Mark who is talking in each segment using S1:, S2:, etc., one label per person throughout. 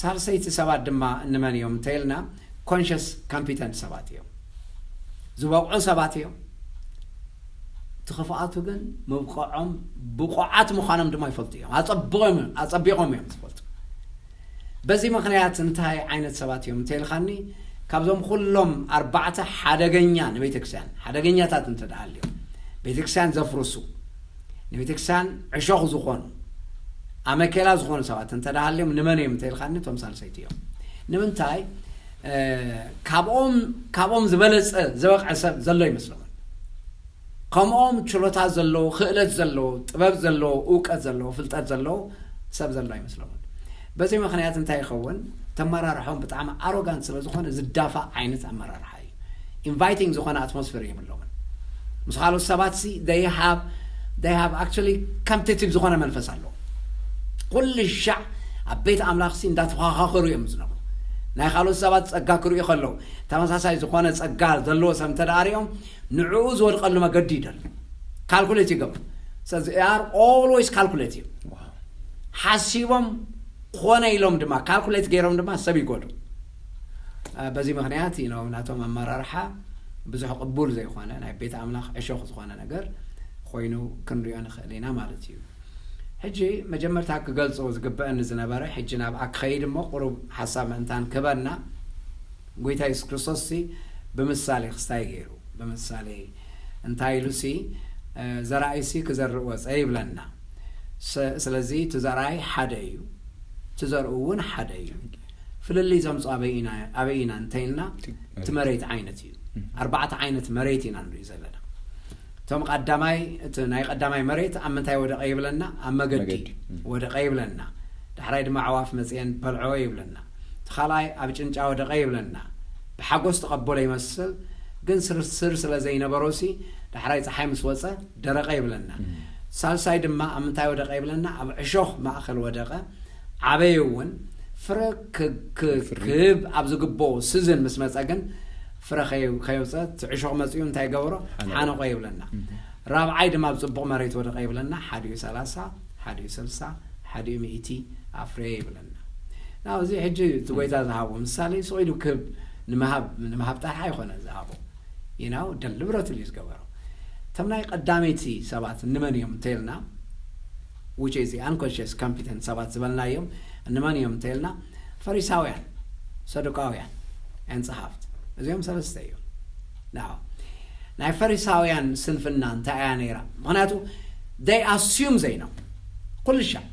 S1: ሳልሰይቲ ሰባት ድማ እንመን እዮም እንተይልና ኮንሽስ ካምፒተንት ሰባት እዮም ዝበቕዑ ሰባት እዮም እቲ ክፍኣቱ ግን ምብቀዖም ብቑዓት ምዃኖም ድማ ይፈልጡ እዮም ኣፀቢቖም እዮም ዝፈልጡ በዚ ምክንያት እንታይ ዓይነት ሰባት እዮም እንተይልካኒ ካብዞም ኩሎም ኣርባዕተ ሓደገኛ ንቤተክርስትያን ሓደገኛታት እንተደኣ ኣልዮም ቤተክርስትያን ዘፍርሱ ንቤተክርስቲያን ዕሾኽ ዝኾኑ ኣመኬላ ዝኾኑ ሰባት እንተዳሃልዮም ንመን እዮም እንተኢልካኒ እቶም ሳልሰይቲ እዮም ንምንታይ ካብኦም ካብኦም ዝበለፀ ዝበቕዐ ሰብ ዘሎ ይመስለኹም ከምኦም ችሎታ ዘለዎ ክእለት ዘለዎ ጥበብ ዘለዎ እውቀት ዘለዎ ፍልጠት ዘለዎ ሰብ ዘሎ ኣይመስለኹም በዚ ምክንያት እንታይ ይኸውን ተመራርሖም ብጣዕሚ ኣሮጋንት ስለ ዝኾነ ዝዳፋእ ዓይነት ኣመራርሓ እዩ ኢንቫይቲንግ ዝኾነ ኣትሞስፌር የብሎምን ምስ ካልኦት ሰባት ሲ they have they have actually competitive ዝኾነ መንፈስ ኣለዎም ኩሉ ሻዕ ኣብ ቤት ኣምላኽ ሲ እንዳተኸኻኸሩ እዮም ዝነብሩ ናይ ካልኦት ሰባት ጸጋ ክርእዩ ከለዉ ተመሳሳይ ዝኾነ ጸጋ ዘለዎ ሰብ እንተ ሪኦም ንዕኡ ዝወድቀሉ መገዲ ይደልዩ ካልኩሌት ይገብሩ ስለዚ ኣር ኦልዌይስ ካልኩሌቲቭ ሓሲቦም ኮነ ኢሎም ድማ ካልኩሌት ገይሮም ድማ ሰብ ይጎዱ በዚ ምኽንያት እዩ ን ናቶም ኣመራርሓ ብዙሕ ቅቡል ዘይኾነ ናይ ቤት ኣምላኽ ዕሾኽ ዝኾነ ነገር ኾይኑ ክንሪኦ ንኽእል ኢና ማለት እዩ። ሕጂ መጀመርታ ክገልጾ ዝግበእኒ ዝነበረ ሕጂ ናብኣ ክኸይድ እሞ ቁሩብ ሓሳብ ምእንታን ክህበና ጎይታ የሱስ ክርስቶስ ሲ ብምሳሌ ክስታይ ገይሩ ብምሳሌ እንታይ ኢሉ ሲ ዘራኣይ ሲ ክዘርእ ወጸ ይብለና ስለዚ እቲ ዘራኣይ ሓደ እዩ እቲ ዘርኡ እውን ሓደ እዩ ፍልልይ ዘምጾ ኣበይ ኢና ኣበይ ኢና እንተይልና እቲ መሬት ዓይነት እዩ ኣርባዕተ ዓይነት መሬት ኢና ንርኢ ዘለና እቶም ቀዳማይ እቲ ናይ ቀዳማይ መሬት ኣብ ምንታይ ወደቀ ይብለና ኣብ መገዲ ወደቀ ይብለና ዳሕራይ ድማ ኣዕዋፍ መጽኤን በልዖ ይብለና እቲ ካልኣይ ኣብ ጭንጫ ወደቀ ይብለና ብሓጎስ ተቐበሎ ይመስል ግን ስርስር ስለ ዘይነበሮሲ ዳሕራይ ፀሓይ ምስ ወፀ ደረቀ ይብለና ሳልሳይ ድማ ኣብ ምንታይ ወደቀ ይብለና ኣብ ዕሾኽ ማእኸል ወደቀ ዓበየ እውን ፍረ ክህብ ኣብ ዝግብኦ ስዝን ምስ መፀ ግን ፍረ ከየውፀ እቲ ዕሾኽ መፂኡ እንታይ ገበሮ ሓነቆ ይብለና ራብዓይ ድማ ኣብ ፅቡቕ መሬት ወደቐ ይብለና ሓዲኡ ሰላሳ ሓዲኡ ስልሳ ሓዲኡ ሚእቲ ኣፍረየ ይብለና ናብ እዚ ሕጂ እቲ ጎይታ ዝሃቦ ምሳሌ ስቂሉ ክህብ ንምሃብ ጥራሕ ኣይኮነ ዝሃቦ ይናው ደልብረትሉ እዩ ዝገበሮ እቶም ናይ ቀዳመይቲ ሰባት እንመን እዮም እንተይልና which is the unconscious competent ሰባት ዝበልናዮም እንመን እዮም እንተይልና ፈሪሳውያን ሰዱቃውያን and ጸሓፍት እዚኦም ሰለስተ እዮም now ናይ ፈሪሳውያን ስንፍና እንታይ እያ ነይራ ምክንያቱ they assume they know ኩሉ ሻዕ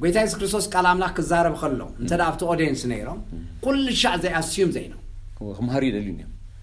S1: ጎይታ የሱስ ክርስቶስ ቃል ኣምላኽ ክዛረብ ከሎ እንተ ኣብቲ ኦዲየንስ ነይሮም ኩሉ ሻዕ they assume they know ክምሃሩ ይደልዩ እዮም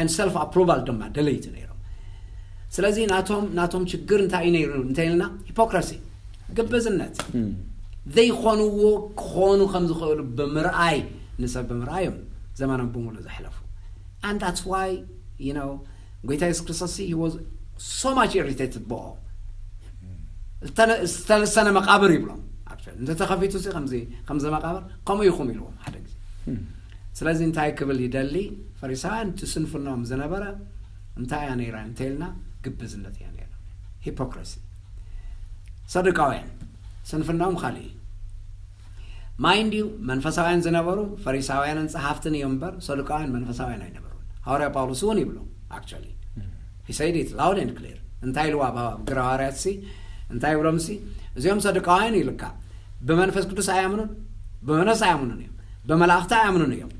S1: and self approval ድማ ደለይቲ ነይሮም ስለዚ ናቶም ናቶም ችግር እንታይ እዩ ነይሩ እንተይልና ሂፖክራሲ ግብዝነት ዘይኾንዎ ክኾኑ ከም ዝኽእሉ ብምርኣይ ንሰብ ብምርኣይ እዮም ዘመኖም ብምሉእ ዘሕለፉ and that's why you know ጎይታ የሱስ ክርስቶስ he was so much irritated ብኦም ዝተለሰነ መቃብር ይብሎም እንተተኸፊቱ ሲ ከምዚ ከምዚ መቃብር ከምኡ ኢኹም ኢልዎም ሓደ ግዜ ስለዚ እንታይ ክብል ይደሊ ፈሪሳውያን እቲ ስንፍንኦም ዝነበረ እንታይ እያ ነይራ እንተይልና ግብዝነት እያ ነይራ ሂፖክረሲ ሰዱቃውያን ስንፍንኦም ካልእ እዩ ማይንድ እዩ መንፈሳውያን ዝነበሩ ፈሪሳውያንን ጸሓፍትን እዮም እምበር ሰዱቃውያን መንፈሳውያን ኣይነበሩን ሃዋርያ ጳውሎስ እውን ይብሎ ኣክቸሊ He said it loud and clear እንታይ ኢልዋ እባ ግራው ሃዋርያትሲ እንታይ ይብሎምሲ እዚኦም ሰዱቃውያን ኢልካ ብመንፈስ ቅዱስ ኣያምኑን ብመንፈስ ኣያምኑን እዮም ብመላእኽቲ ኣያምኑን እዮም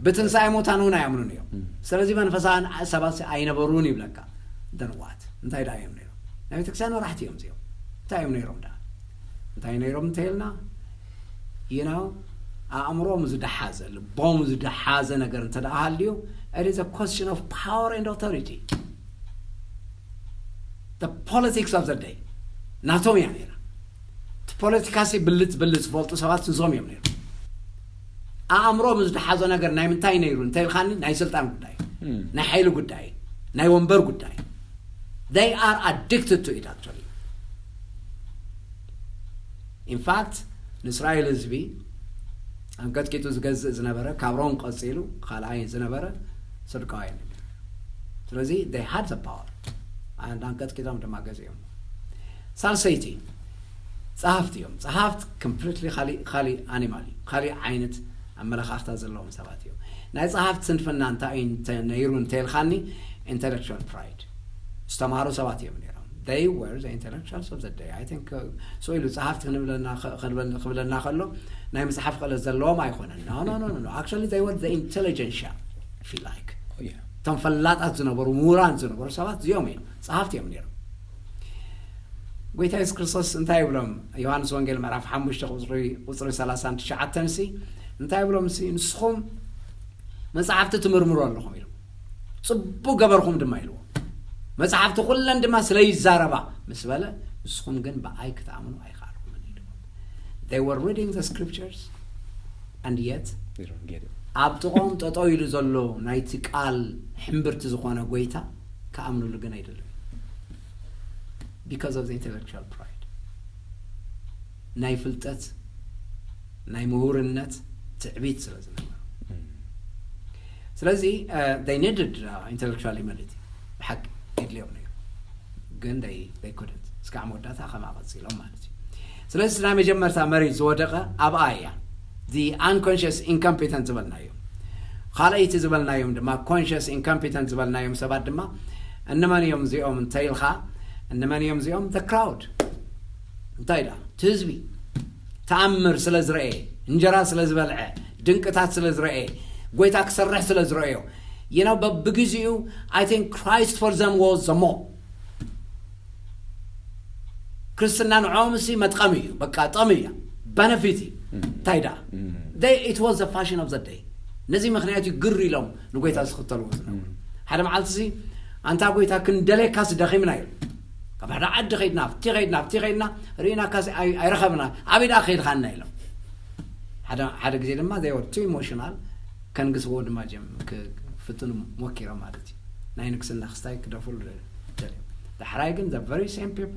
S1: ብትንሳኤ ሙታን እውን ኣያምኑን እዮም ስለዚ መንፈሳውያን ሰባት ኣይነበሩን ይብለካ ደንዋት እንታይ ደኣ እዮም ነይሮም ናይ ቤተክርስትያን መራሕቲ እዮም እዚኦም እንታይ እዮም ነይሮም ደኣ እንታይ ነይሮም እንተይልና you know ኣእምሮም ዝደሓዘ ልቦም ዝደሓዘ ነገር እንተ ደኣ ሃልዩ it is a question of power and authority the politics of the day ናቶም እያ ነይራ እቲ ፖለቲካሲ ብልፅ ብልፅ ዝፈልጡ ሰባት እዞም እዮም ነይሩ ኣእምሮም ዝደሓዞ ነገር ናይ ምንታይ ነይሩ እንተ ኢልካኒ ናይ ስልጣን ጉዳይ ናይ ሓይሊ ጉዳይ ናይ ወንበር ጉዳይ they are addicted to it actually ኢንፋክት ንእስራኤል ህዝቢ ኣንቀጥቂጡ ዝገዝእ ዝነበረ ካብ ሮም ቀፂሉ ካልኣይ ዝነበረ ስርቃውያን እዩ ነይሩ ስለዚ ይ ሃድ ዘ ፓወር ኣንድ ኣንቀጥቂጦም ድማ ገዚኦም ሳልሰይቲ ፀሃፍቲ እዮም ፀሃፍት ኮምፕሊትሊ ካሊእ ኣኒማል እዩ ካሊእ ዓይነት ኣመለኻኽታ ዘለዎም ሰባት እዮም ናይ ፀሃፍት ስንፍና እንታይ ነይሩ እንተልካኒ ኢንተሌክቹዋል ፕራይድ ዝተማህሩ ሰባት እዮም ነይሮም they were the intellectuals of the day i think uh, so ኢሉ ጸሓፍቲ ክንብለና ከ- ክንብል- ክብለና ከሎ ናይ ምጽሓፍ ክእለት ዘለዎም ኣይኮነን no no no no no actually they were the intelligentsia if you like Oh, yeah. እቶም ፈላጣት ዝነበሩ ምሁራን ዝነበሩ ሰባት እዚኦም እዮም ጸሓፍቲ እዮም ነይሮም ጎይታ የሱስ ክርስቶስ እንታይ ይብሎም ዮሃንስ ወንጌል ምዕራፍ 5 ቁፅሪ ቁፅሪ 39 ሲ እንታይ ይብሎም ሲ ንስኹም መጽሓፍቲ ትምርምሩ ኣለኹም ኢሉ ጽቡቅ ገበርኹም ድማ ኢልዎ መጽሓፍቲ ኩለን ድማ ስለ ይዛረባ ምስ በለ ንስኹም ግን ብኣይ ክትኣምኑ ኣይከኣልኩምን ኢልዎ they were reading the scriptures and yet
S2: ኣብ ጥቖም ጠጠው
S1: ኢሉ ዘሎ ናይቲ ቃል ሕምብርቲ ዝኾነ ጎይታ ክኣምንሉ ግን ኣይደለዩ because of the intellectual pride ናይ ፍልጠት ናይ ምሁርነት ትዕቢት ስለ ዝነበሮ ስለዚ ይ ነድድ ኢንተሌክል መሊቲ ብሓቂ የድልዮም ነይሩ ግን ይ ኩድንት እስካዕ መወዳእታ ከምኣ ቀፂሎም ማለት እዩ ስለዚ ናይ መጀመርታ መሪት ዝወደቀ ኣብኣ እያ ኣንኮንሽስ ኢንኮምፒተንት ዝበልናዮ ካልኣይቲ ዝበልናዮም ድማ ኮንሽስ ኢንኮምፒተንት ዝበልናዮም ሰባት ድማ እንመን እዮም እዚኦም እንተይልካ እንመን እዮም እዚኦም ክራውድ እንታይ ደኣ እቲ ህዝቢ ተኣምር ስለ ዝረኤ እንጀራ ስለ ዝበልዐ ድንቅታት ስለ ዝረኤ ጎይታ ክሰርሕ ስለ ዝረእዮ you know በብግዚኡ I think Christ for them was the more ክርስትና ንዖም ሲ መጥቀሚ እዩ በቃ ጠሚ እያ በነፊት እዩ እንታይ ደኣ they it was the fashion of the day ነዚ ምክንያት እዩ ግር ኢሎም ንጎይታ ዝኽተልዎ ዝነበሩ ሓደ መዓልቲ ሲ ኣንታ ጎይታ ክንደልየካስ ደኺምና ኢሉ ካብ ሓደ ዓዲ ከይድና ኣብቲ ከይድና ኣብቲ ከይድና ርኢናካሲ ኣይረኸብና ኣበይ ደኣ ከይድኻና ኢሎም ሓደ ግዜ ድማ ዘይ ወር ቱ ኢሞሽናል ከንግስዎ ድማ ጀም ክፍትኑ ሞኪሮም ማለት እዩ ናይ ንግስና ክስታይ ክደፍሉ ደልዮም ዳሕራይ ግን ዘ ቨሪ ሴም ፒፖ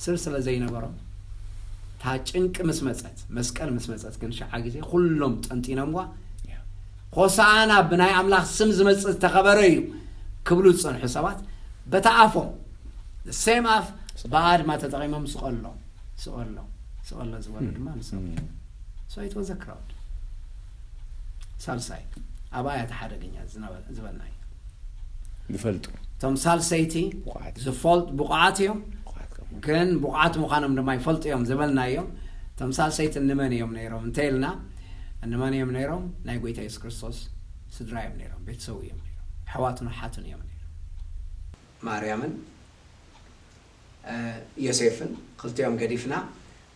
S1: ስር ስለ ዘይነበሮም እታ ጭንቂ ምስ መፀት መስቀል ምስ መፀት ግን ሸዓ ግዜ ኩሎም ጠንጢኖምዋ ሆሳእና ብናይ ኣምላኽ ስም ዝመጽእ ዝተኸበረ እዩ ክብሉ ዝጸንሑ ሰባት በታ ኣፎም the same ኣፍ ብኣድማ ተጠቒሞም ስቐሎ ስቐሎ ስቐሎ ዝበሉ ድማ ንሶም እዮም so it was a crowd ሳልሳይ ኣብኣ እያ እቲ ሓደገኛ ዝነበረ ዝበልና እዩ ዝፈልጡ
S2: እቶም
S1: ሳልሰይቲ ብቑዓት። ዝፈልጡ ብቑዓት እዮም ብቑዓት ከም ግን ብቑዓት ምዃኖም ድማ ይፈልጡ እዮም ዝበልና እዮም እቶም ሳልሰይቲ ንመን እዮም ነይሮም እንተይልና እንመን እዮም ነይሮም? ናይ ጐይታ የሱስ ክርስቶስ ስድራ እዮም ነይሮም፣ ቤተሰቡ እዮም ነይሮም፣ ኣሕዋቱን ኣሓቱን እዮም ነይሮም። ማርያምን ዮሴፍን ክልቲኦም ገዲፍና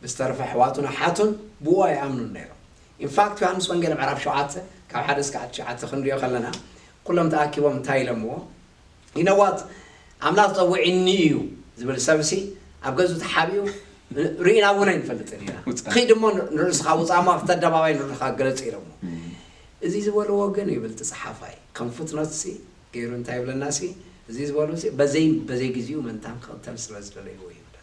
S1: ብዝተረፈ ኣሕዋቱን ኣሓቱን ብኡ ኣይኣምኑን ነይሮም። in fact ዮሃንስ ወንጌል ምዕራፍ ሸውዓተ ካብ ሓደ እስካብ ትሽዓተ ክንሪኦ ከለና ኩሎም ተኣኪቦም እንታይ ኢሎምዎ? you know what ኣምላኽ ጸዊዒኒ እዩ ዝብል ሰብሲ ኣብ ገዝኡ ተሓቢኡ ርኢና እውን ኣይንፈልጥን ኢና ውጻእ። ኺድ እሞ ንርእስኻ ውፃእ እሞ ኣብቲ ኣደባባይ ንርእኻ ግለጽ ኢሎሞ እዚ ዝበልዎ ግን ይብል ትጽሓፋይ ከም ፉትኖትሲ ገይሩ እንታይ ይብለና ሲ እዚ ዝበልዎ ሲ በዘይ በዘይ ግዜኡ መንታን ክቕተል ስለ ዝደለይዎ ይብለና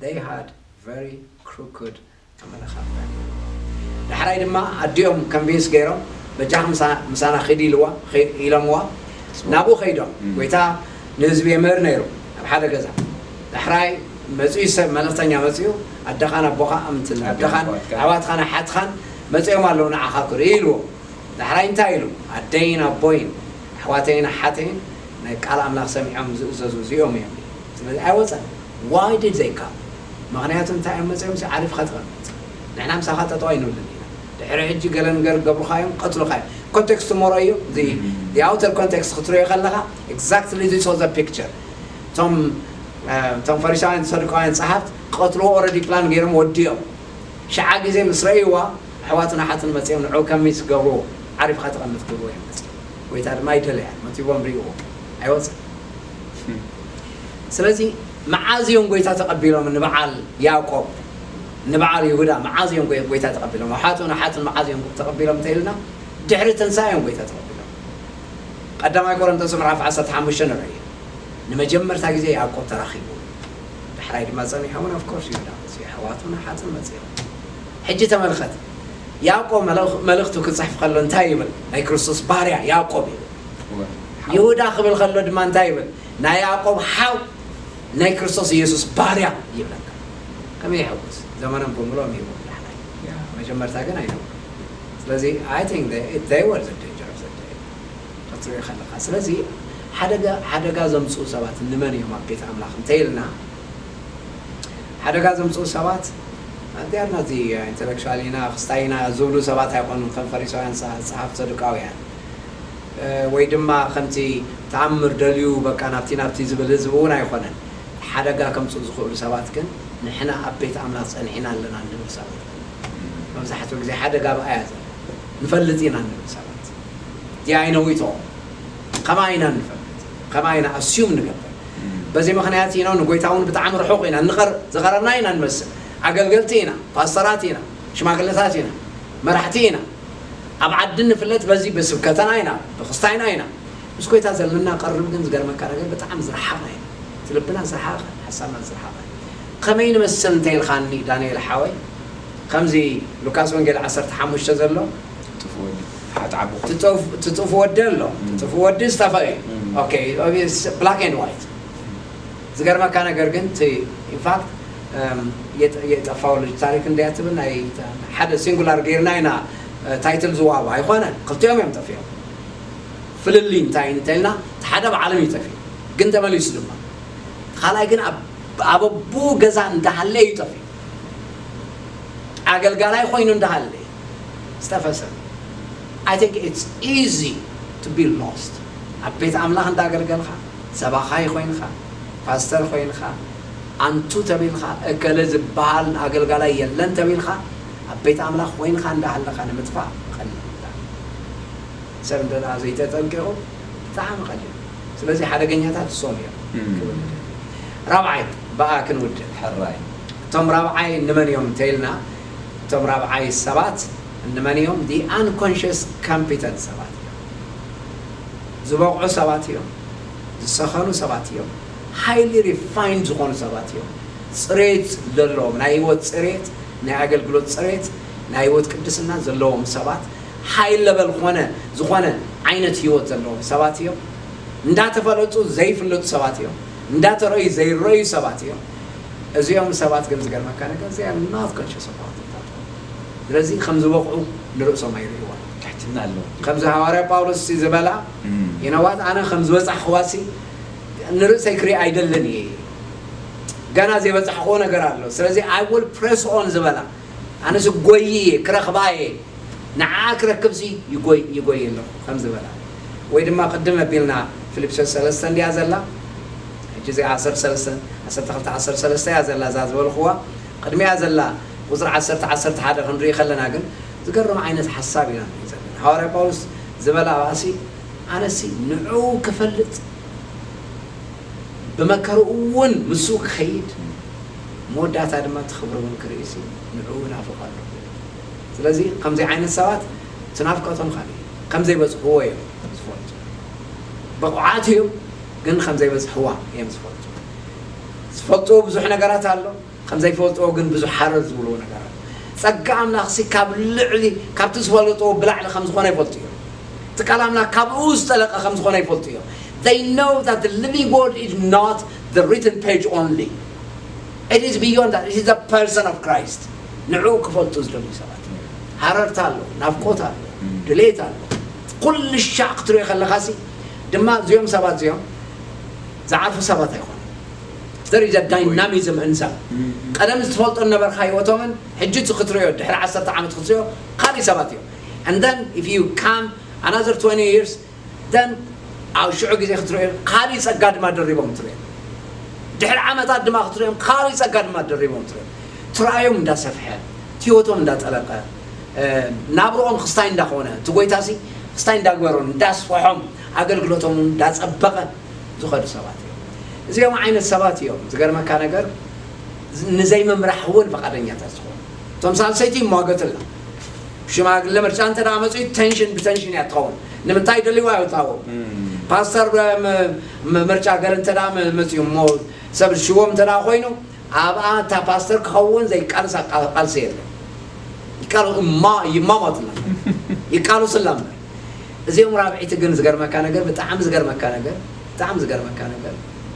S1: They had very crooked ኣመለኻኽታ ነይርዎም። ዳሕራይ ድማ ኣዲኦም convince ገይሮም በጃኺ ምሳና ኺዲ ኢልዋ ኢሎምዋ ናብኡ ከይዶም ጎይታ ንህዝቢ የምህር ነይሩ ኣብ ሓደ ገዛ ዳሕራይ መጺኡ ሰብ መልእኽተኛ መጺኡ ኣደኻን ኣቦኻ ኣምትን ኣደኻን ኣሕዋትኻን ኣሓትኻን መጺኦም ኣለዉ ንዓኻ ክርኢ ኢልዎ ዳሕራይ እንታይ ኢሉ ኣደይን ኣቦይን ኣሕዋተይን ኣሓተይን ናይ ቃል ኣምላኽ ሰሚዖም ዝእዘዙ እዚኦም እዮም ዝብል ኣይወጸን ዋይ ዲድ ዘይ ካል መክንያቱ እንታይ እዮም መጺኦም ሲ ዓሪፍካ ተቀመጥ ንሕና ምሳካ ጠጠው ኣይንብልን ኢና ድሕሪ ሕጂ ገለ ንገር ገብርካ እዮም ክቀትሉካ እዮም ኮንቴክስት ሞሮ እዩ እዚ the outer context ክትርእዮ ከለካ exactly this was the picture እቶም እቶም ፈሪሳውያን ሰዱቃውያን ጸሓፍት ክቀትልዎ already ፕላን ገይሮም ወዲኦም ሽዓ ግዜ ምስ ረእይዋ ኣሕዋትን ኣሓትን መጺኦም ንዕኡ ከሚት ክገብርዎ ዓሪፍካ ተቀመጥ ክብልዎ እዮም መጺኦም ጎይታ ድማ ኣይደለያን መጺዎም ሪእዎ ኣይወጽን ስለዚ መዓዝ እዮም ጎይታ ተቀቢሎም ንበዓል ያቆብ ንበዓል ይሁዳ መዓዝ እዮም ጎይታ ተቀቢሎም ኣሓቱን ኣሓቱን መዓዝ እዮም ተቀቢሎም እንተኢልና ድሕሪ ትንሳኤ እዮም ጎይታ ተቀቢሎም ቀዳማይ ቆሮንቶስ ምዕራፍ ዓሰርተ ሓሙሽተ ንርኢ ንመጀመርታ ግዜ ያቆብ ተራኺቡ ዳሕራይ ድማ ጸኒሖምን ኣፍኮርስ ይሁዳ መጽኡ ኣሕዋቱን ኣሓቱን መጽኦም ሕጂ ተመልከት ያእቆብ መልእኽቱ ክጽሕፍ ከሎ እንታይ ይብል? ናይ ክርስቶስ ባርያ ያእቆብ ይብል። ይሁዳ ክብል ከሎ ድማ እንታይ ይብል? ናይ ያእቆብ ሓው ናይ ክርስቶስ ኢየሱስ ባርያ ይብለካ። ከመይ የሐጉስ! ዘመኖም ብምልኦም ሂቦም ዳሕራይ መጀመርታ ግን ኣይነበሩን። ስለዚ I think they were the danger of the day ክትሪኦ ከለኻ። ስለዚ ሓደጋ ሓደጋ ዘምጽኡ ሰባት ንመን እዮም ኣብ ቤት ኣምላኽ እንተ ኢልና፣ ሓደጋ ዘምጽኡ ሰባት ኣዴኣና እዚ ኢንተለክቹዋል ኢና ክስታይ ኢና ዝብሉ ሰባት ኣይኮኑን ከም ፈሪሳውያን ጸሓፍት ሰዱቃውያን ወይ ድማ ከምቲ ተኣምር ደልዩ በቃ ናብቲ ናብቲ ዝብል ህዝቢ እውን ኣይኮነን ሓደጋ ከምጽኡ ዝኽእሉ ሰባት ግን ንሕና ኣብ ቤት ኣምላኽ ጸኒሕና ኣለና እንብል ሰባት መብዛሕትኡ ግዜ ሓደጋ ኣብኣያ ዘሎ ንፈልጥ ኢና እንብል ሰባት ዲኣይነዊቶ ከምኣ ኢና እንፈልጥ ከምኣ ኢና ኣስዩም ንገብር በዚ ምክንያት ኢኖ ንጎይታውን ብጣዕሚ ርሑቅ ኢና እንቀርብ ዝቀረብና ኢና እንመስል ኣገልገልቲ ኢና ፓስተራት ኢና ሽማግለታት ኢና መራሕቲ ኢና ኣብ ዓዲ ንፍለጥ በዚ ብስብከተና ኢና ብክስታይና ኢና ምስ ጎይታ ዘለና ቀርብ ግን ዝገርመካ ነገር ብጣዕሚ ዝረሓቅና ኢና እቲ ልብና ዝረሓቀ ሓሳብና ዝረሓቀ ከመይ ንመስል እንተኢልካኒ ዳንኤል ሓወይ ከምዚ ሉካስ ወንጌል ዓሰርተ ሓሙሽተ ዘሎ ትጥፍ ወዲ ሓ ትዓቢ ኮፍ ትጥፍ ትጥፍ ወዲ ኣሎ ትጥፍ ወዲ ዝተፈሪ ኦኬ ብላክ ኤንድ ዋይት ዝገርመካ ነገር ግን እቲ ኢንፋክት የጠፋው ልጅ ታሪክ እንድያ ትብል ናይ ሓደ ሲንጉላር ገይርና ኢና ታይትል ዝዋባ ኣይኮነ ክልቲኦም እዮም ጠፊኦም ፍልልይ እንታይ እንተልና እቲ ሓደ ብዓለም እዩ ጠፊኡ ግን ተመሊሱ ድማ ካልኣይ ግን ኣብ ኣበቡ ገዛ እንዳሃለ እዩ ጠፊኡ ኣገልጋላይ ኮይኑ እንዳሃለ ዝተፈጸመ I think it's easy to be lost ኣብ ቤት ኣምላኽ እንዳገልገልካ ሰባኻይ ኮይንካ ፓስተር ኮይንካ ኣንቱ ተቢልካ እከለ ዝብሃል ኣገልጋላይ የለን ተቢልካ ኣብ ቤት ኣምላኽ ኮይንካ እንዳሃለካ ንምጥፋእ ቀሊል ብጣዕሚ ሰብ እንተ ዘይተጠንቂቁ ብጣዕሚ ቀሊል እዩ ስለዚ ሓደገኛታት እሶም እዮም ክብል ንደሊ ራብዓይ ብኣ ክንውድእ ሕራይ
S2: እቶም ራብዓይ
S1: ንመን እዮም እንተይልና እቶም ራብዓይ ሰባት እንመን እዮም? The unconscious competent ሰባት እዮም። ዝበቕዑ ሰባት እዮም። ዝሰኸኑ ሰባት እዮም። highly refined ዝኾኑ ሰባት እዮም። ፅሬት ዘለዎም፣ ናይ ህይወት ፅሬት፣ ናይ ኣገልግሎት ፅሬት፣ ናይ ህይወት ቅድስና ዘለዎም ሰባት፣ high level ኾነ ዝኾነ ዓይነት ህይወት ዘለዎም ሰባት እዮም። እንዳተፈለጡ ዘይፍለጡ ሰባት እዮም። እንዳተረእዩ ዘይረእዩ ሰባት እዮም። እዚኦም ሰባት ግን ዝገርመካ ነገር they are not conscious about it at all ስለዚ ከም ዝበቕዑ ንርእሶም ኣይርእይዎን። ትሕትና ኣለዎም ጅግና።
S2: ከምዚ ሃዋርያ ጳውሎስ'ሲ
S1: ዝበላ you know what ኣነ ከም ዝበጻሕክዋ'ሲ ንርእሰይ ክርኢ ኣይደልን እየ ገና ዘይበጻሕክዎ ነገር ኣሎ ስለዚ i will press on ዝበላ ኣነ'ሲ ጎይይ እየ ክረኽባ እየ ንዓኣ ክረክብ'ሲ ይጎይ ይጎይ ኣለኹ ከም ዝበላ ወይ ድማ ቅድም ኣቢልና ፊልጵስዮስ ሰለስተ እንድያ ዘላ ሕጂ እዚኣ ዓሰርተ ሰለስተ፣ ዓሰርተ ክልተ፣ ዓሰርተ ሰለስተ እያ ዘላ እዛ ዝበልኹዋ። ቅድሚኣ ዘላ ቁጽሪ ዓሰርተ፣ ዓሰርተ ሓደ ክንርኢ ከለና ግን ዝገርም ዓይነት ሓሳብ ኢና ንርኢ ዘለና። ሃዋርያ ጳውሎስ ዝበላ ኣብኣሲ ኣነሲ ንዕኡ ክፈልጥ ብመከርኡ እውን ምስኡ ክኸይድ መወዳእታ ድማ እቲ ክብሪ እውን ክርኢሲ ንዕኡ እናፍቆ ኣለኹ ይብል። ስለዚ ከምዚ ዓይነት ሰባት እቲ ናፍቆቶም ካልእ እዩ። ከምዘይበጽሕዎ እዮም ዝፈልጡ። ብቑዓት እዮም። ግን ከምዘይበጽሕዋ እዮም ዝፈልጡ ዝፈልጥዎ ብዙሕ ነገራት ኣሎ ከምዘይፈልጥዎ ግን ብዙሕ ሓረር ዝብልዎ ነገር ኣሎ ጸጋ ኣምላኽሲ ካብ ልዕሊ ካብቲ ዝፈለጥዎ ብላዕሊ ከም ዝኾነ ይፈልጡ እዮም እቲ ቃል ኣምላኽ ካብኡ ዝጠለቀ ከም ዝኾነ ይፈልጡ እዮም they know that the living word is not the written page only it is beyond that it is the person of Christ ንዕኡ ክፈልጡ ዝደልዩ ሰባት ሃረርታ ኣሎ ናፍቆት ኣሎ ድሌት ኣሎ ኩሉ ሻዕ ክትሪኦ ከለኻሲ ድማ እዚኦም ሰባት እዚኦም ዝዓርፉ ሰባት ኣይኮኑን። There is a dynamism in them ቀደም ዝትፈልጦ ዝነበርካ ሂወቶምን ሕጂ እቲ ክትርእዮ ድሕሪ ዓሰርተ ዓመት ክትርእዮ ካልእ ሰባት እዮም and then if you come another twenty years then ኣብ ሽዑ ግዜ ክትርእዮ ካልእ ጸጋ ድማ ደሪቦም ትርእዮም ድሕሪ ዓመታት ድማ ክትርእዮም ካልእ ጸጋ ድማ ደሪቦም ትርእዮም ትራእዮም እንዳሰፍሐ እቲ ሂወቶም እንዳጠለቀ ናብርኦም ኽስታይ እንዳኾነ እቲ ጎይታሲ ኽስታይ እንዳግበሮን እንዳስፈሖም ኣገልግሎቶም እውን እንዳጸበቐ ዝኸዱ ሰባት እዮም። እዚኦም ዓይነት ሰባት እዮም ዝገርመካ ነገር ንዘይምምራሕ እውን ፈቓደኛታት ዝኾኑ። እቶም ሳልሰይቲ ይሟገትላ ሽማግለ ምርጫ እንተ መጺኡ ተንሽን ብተንሽን እያ ትኸውን። ንምንታይ ደልይዋ ይውታዎ ፓስተር ምርጫ ገር እንተ መጺኡ እሞ ሰብ ሽዎም እንተ ኮይኑ ኣብኣ እታ ፓስተር ክኸውን ዘይቃልሳ ቃልሲ የለን ይቃሉ እማ ይማማቱላ ይቃሉስላ እምበር እዚኦም ራብዒቲ ግን ዝገርመካ ነገር ብጣዕሚ ዝገርመካ ነገር ብጣዕሚ ዝገርመካ ነገር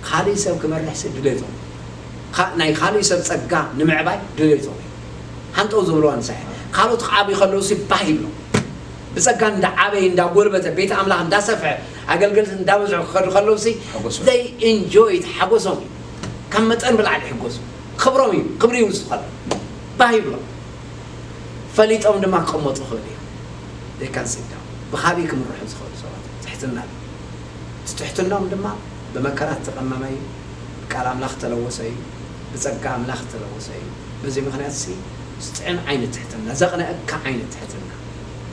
S1: ካልእ ሰብ ክመርሕሲ ድሌቶም እዩ ናይ ካልእ ሰብ ጸጋ ንምዕባይ ድሌቶም እዩ ሃንጠው ዝብልዋ ንሳ እያ ካልኦት ክዓብዩ ከለውሲ ባህ ይብሎም ብጸጋ እንዳዓበየ እንዳጎልበተ ቤት ኣምላኽ እንዳሰፍሐ ኣገልገልቲ እንዳበዝሑ ክኸዱ ከለውሲ ሓጎሶም። they enjoy it ሓጎሶም እዩ ካብ መጠን ብላዕሊ ይሕጎሱ። ክብሮም እዩ፣ ክብሪ እዩ ንዝኾነ ባህ ይብሎም። ፈሊጦም ድማ ክቕመጡ ይኽእሉ እዮም። They can sit down። ብኻብይ ክምርሑ ዝኽእሉ ሰባት እዮም። ትሕትና እዩ። እቲ ትሕትንኦም ድማ ብመከራ ዝተቐመመ እዩ፣ ብቃል ኣምላኽ ዝተለወሰ እዩ፣ ብጸጋ ኣምላኽ ዝተለወሰ እዩ። በዚ ምኽንያት እዚ ዝጥዕም ዓይነት ትሕትና፣ ዘቕንኣካ ዓይነት ትሕትና፣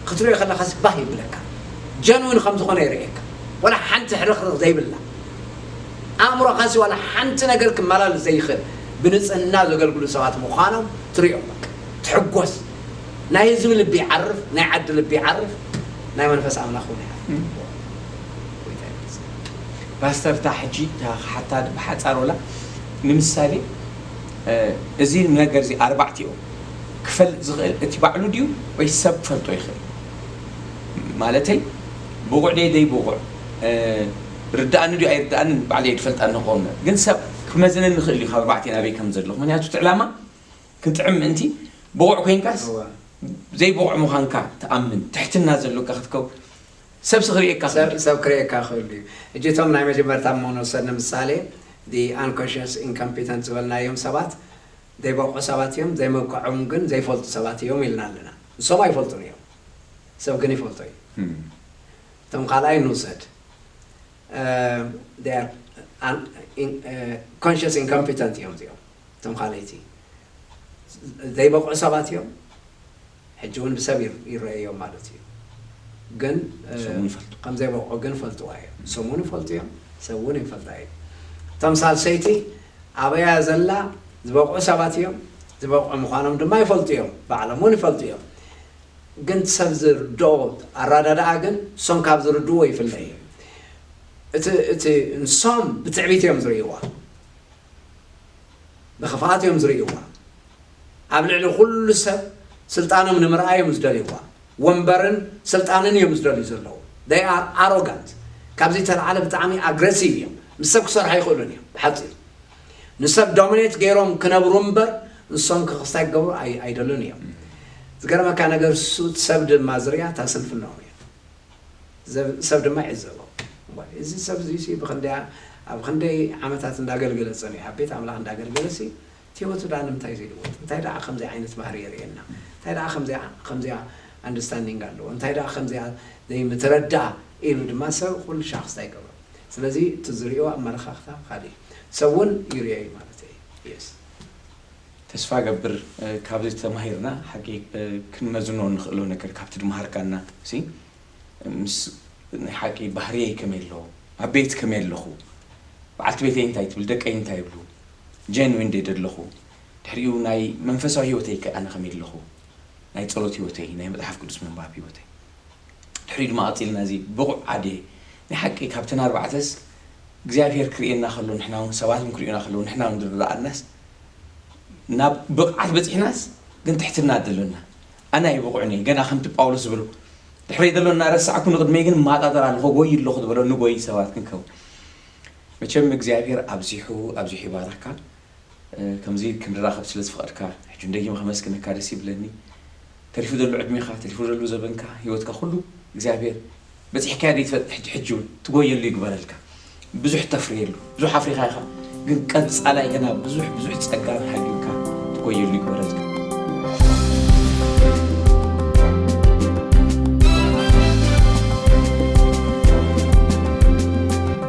S1: ክትርእዮ ከለኻስ ባህ የብለካ። Genuine ከም ዝኾነ የርእየካ። ዋላ ሓንቲ ሕርኽርኽ ዘይብላ። ኣእምሮኻሲ ዋላ ሓንቲ ነገር ክመላለስ ዘይኽእል ብንጽህና ዘገልግሉ ሰባት ምዃኖም ትርእዮም በቃ ትሕጎስ ናይ ህዝቢ ልቢ ይዓርፍ ናይ ዓዲ ልቢ ይዓርፍ ናይ መንፈስ ኣምላኽ ውን ይዓርፍ ጎይታ
S2: ይመስገን ፓስተር እታ ሕጂ እታ ክሓታ ብሓጻር ወላ ንምሳሌ እዚ ነገር እዚ ኣርባዕቲኦ ክፈልጥ ዝኽእል እቲ ባዕሉ ድዩ ወይስ ሰብ ክፈልጦ ይኽእል ማለተይ ብቑዕ ደይ ዘይብቑዕ ርዳኣኒ ድዩ ኣይርዳኣንን ባዕለይ እየ ድፈልጣ እንኾ እምበር ግን ሰብ ክመዝነኒ ይኽእል እዩ ካብ ኣርባዕተ ናበይ ከም ዘለኹ ምኽንያቱ እቲ ዕላማ ክጥዕም ምእንቲ ብቑዕ ኮይንካስ ዘይብቑዕ ምዃንካ ትኣምን ትሕትና ዘሎካ ክትከው ሰብሲ ክርእየካ ክእል ሰብ እዩ። ሰብ ክርእየካ
S1: ክእል እዩ። ሕጂ እቶም ናይ መጀመርታ እሞ ንውሰድ ንምሳሌ the unconscious incompetent ዝበልናዮም ሰባት ዘይበቕዑ ሰባት እዮም ዘይምብቃዖም ግን ዘይፈልጡ ሰባት እዮም ኢልና ኣለና ንሶም ኣይፈልጡን እዮም ሰብ ግን ይፈልጦ እዩ። እቶም ካልኣይ ንውሰድ they are conscious incompetent እዮም እዚኦም እቶም ካልኣይቲ ዘይበቕዑ ሰባት እዮም ሕጂ እውን ብሰብ ይረኣዮም ማለት እዩ ግን ከም ዘይበቕዑ ግን ፈልጥዋ እዮም ንሶም እውን ይፈልጡ እዮም ሰብ እውን ይፈልጣ እዩ እቶም ሳልሰይቲ ኣበያ ዘላ ዝበቕዑ ሰባት እዮም ዝበቕዑ ምዃኖም ድማ ይፈልጡ እዮም ባዕሎም እውን ይፈልጡ እዮም ግን ሰብ ዝርድኦ ኣራዳድኣ ግን ሶም ካብ ዝርድእዎ ይፍለ እዩ እቲ እቲ ንሶም ብትዕቢት እዮም ዝርእይዋ ብክፍኣት እዮም ዝርእይዋ ኣብ ልዕሊ ኩሉ ሰብ ስልጣኖም ንምርኣይ እዮም ዝደልይዋ ወንበርን ስልጣንን እዮም ዝደልዩ ዘለዉ they are arrogant ካብዚ ተልዓለ ብጣዕሚ ኣግረሲቭ እዮም ምስ ሰብ ክሰርሑ ኣይኽእሉን እዮም ብሓፂሩ ንሰብ ዶሚኔት ገይሮም ክነብሩ እምበር ንሶም ከክስታይ ክገብሩ ኣይደሉን እዮም። ዝገርመካ ነገር እሱ ሰብ ድማ ዝርያ እታ ስንፍናኦም እያ። ሰብ ድማ ይዕዘቦ እዚ ሰብ እዚ ብክንደያ ኣብ ክንደይ ዓመታት እንዳገልገለ ፀኒሑ ኣብ ቤት ኣምላኽ እንዳገልገለ ሲ እቲ ህይወቱ ዳ ንምንታይ ዘይልወጥ እንታይ ደኣ ከምዚ ዓይነት ባህሪ የርእየና እንታይ ደኣ ከምዚያ ኣንደርስታንዲንግ ኣለዎ እንታይ ደኣ ከምዚያ ዘይምትረድኣ ኢሉ ድማ ሰብ ኩሉ ሻክስታ ይገብሮ ስለዚ እቲ ዝሪኦ ኣመለኻኽታ ካሊእ ሰብ ውን ይሪኦ ዩ ማለተይ ዩ yes።
S2: ተስፋ እገብር ካብዚ ተማሂርና ሓቂ ክንመዝኖ ንኽእሎ ነገር ካብቲ ድመሃርካና ሲ ምስ ናይ ሓቂ ባህርየይ ከመይ ኣሎ ኣብ ቤት ከመይ ኣለኹ በዓልቲ ቤተይ እንታይ ትብል ደቀይ እንታይ ይብሉ ጀንዊን ድየ ደለኹ ድሕሪኡ ናይ መንፈሳዊ ሂወተይ ከ ኣነ ከመይ ኣለኹ ናይ ጸሎት ሂወተይ ናይ መጽሓፍ ቅዱስ ምንባብ ሂወተይ ድሕሪኡ ድማ ቀጺልና እዚ ብቑዕ ኣድየ ናይ ሓቂ ካብተን ኣርባዕተስ እግዚኣብሄር ክርእየና ከሎ ንሕና ውን ሰባት ውን ክርእዩና ከለዉ ንሕና ውን ዝረኣናስ ናብ ብቕዓት በጺሕናስ ግን ትሕትና ደሎና ኣነ ኣይብቑዕን እየ ገና ከምቲ ጳውሎስ ዝበሎ ድሕረይ ዘሎ እናረሳዕኩ ንቕድመይ ግን ማጣጠር ኣለኹ ጎይ ኣለኹ ዝበሎ ንጎይ ሰባት ክንከውን መቸም እግዚኣብሄር ኣብዚሑ ኣብዚሑ ይባርኽካ ከምዚ ክንራከብ ስለ ዝፈቀድካ ሕጂ ውን ደጊመ ከመስግነካ ደስ ይብለኒ ተሪፉ ደሎ ዕድሜካ ተሪፉ ደሎ ዘበንካ ሂወትካ ኩሉ እግዚኣብሔር በጺሕካዮ ዘይትፈልጥ ሕጂ ሕጂ ውን ትጎየሉ ይግበረልካ ብዙሕ ተፍርየሉ ብዙሕ ኣፍሪካ ኢካ ግን ቀጻላይ ገና ብዙሕ ብዙሕ ጸጋ ሃልዩካ ትጎየሉ ይግበረልካ